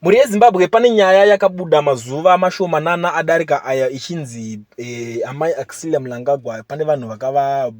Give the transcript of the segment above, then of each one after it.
Mhuri yeZimbabwe pane nyaya yakabuda mazuva mashomanana adarika aya ichinzi eh, amai Axilia Mnangagwa pane vanhu vakava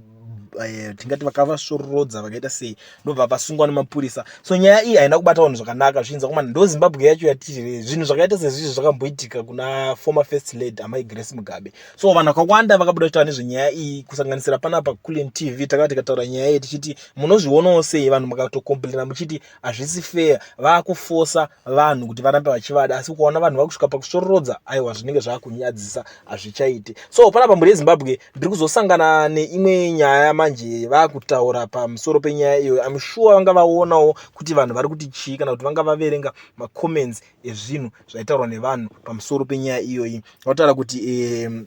eh, tingati vakavasororodza vakaita sei ndobva vasungwa nemapurisa so nyaya iyi haina kubata vanhu zvakanaka zvichinzi kuma ndo Zimbabwe yacho yatiri zvinhu zvakaita sezvizvi zvakamboitika kuna former first lady amai Grace Mugabe so vanhu vakawanda vakabuda kutaura nezvenyaya iyi kusanganisira panapa Kulen TV takati tikataura nyaya iyi tichiti munozvionawo sei vanhu makatokomplaina muchiti hazvisi fair vakufosa vanhu kuti varambe vachivada asi ukaona vanhu vakusvika pakusvororodza aiwa zvinenge zvakunyadzisa hazvichaiti so panapa mhuri yezimbabwe ndiri kuzosangana neimwe nyaya manje vakutaura pamusoro penyaya iyoyo im sure vanga vaonawo kuti vanhu vari kuti chii kana kuti vanga vaverenga macomments ezvinhu zvaitaurwa nevanhu pamusoro penyaya iyoyi vataura kuti um,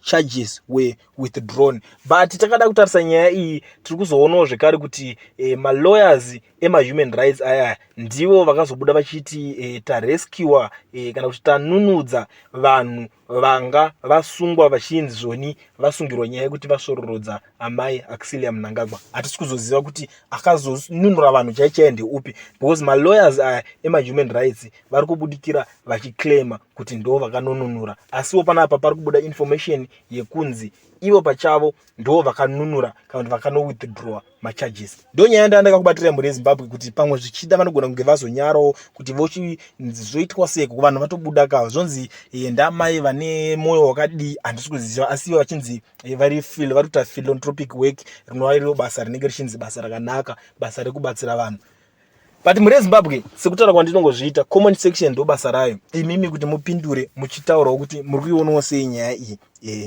charges were withdrawn but takada kutarisa nyaya iyi tiri kuzoonawo zvekare kuti eh, malawyers emahuman rights aya ndivo vakazobuda vachiti eh, tarescua eh, kana kuti tanunudza vanhu vanga vasungwa vachinzi zvoni vasungirwa nyaya yekuti vasvororodza amai Auxilia Mnangagwa hatisi kuzoziva kuti akazonunura vanhu chaichaya ndeupi because malawyers aya emahuman rights vari kubudikira vachiclaima kuti ndo vakanonunura asiwo panapa pari kubuda information yekunzi ivo pachavo ndo vakanunura kana kuti vakanowithdrawa macharges ndo nyaya ndaa ndakakubatira mhuri yezimbabwe kuti pamwe zvichida vanogona kunge vazonyarawo kuti vochizoitwa sei kuvanhu vatobuda kava zvonzi eh, ndamai vane mwoyo wakadii handisi kuziva asiwo vachinzi Eh, vari fil vari kuita philanthropic work rinova iro basa rinenge richinzi basa rakanaka basa rekubatsira vanhu but mhuri yezimbabwe sekutaura kwandinongozviita common section ndo basa rayo imimi kuti mupindure muchitaurawo kuti muri kuionawo sei nyaya iyi e.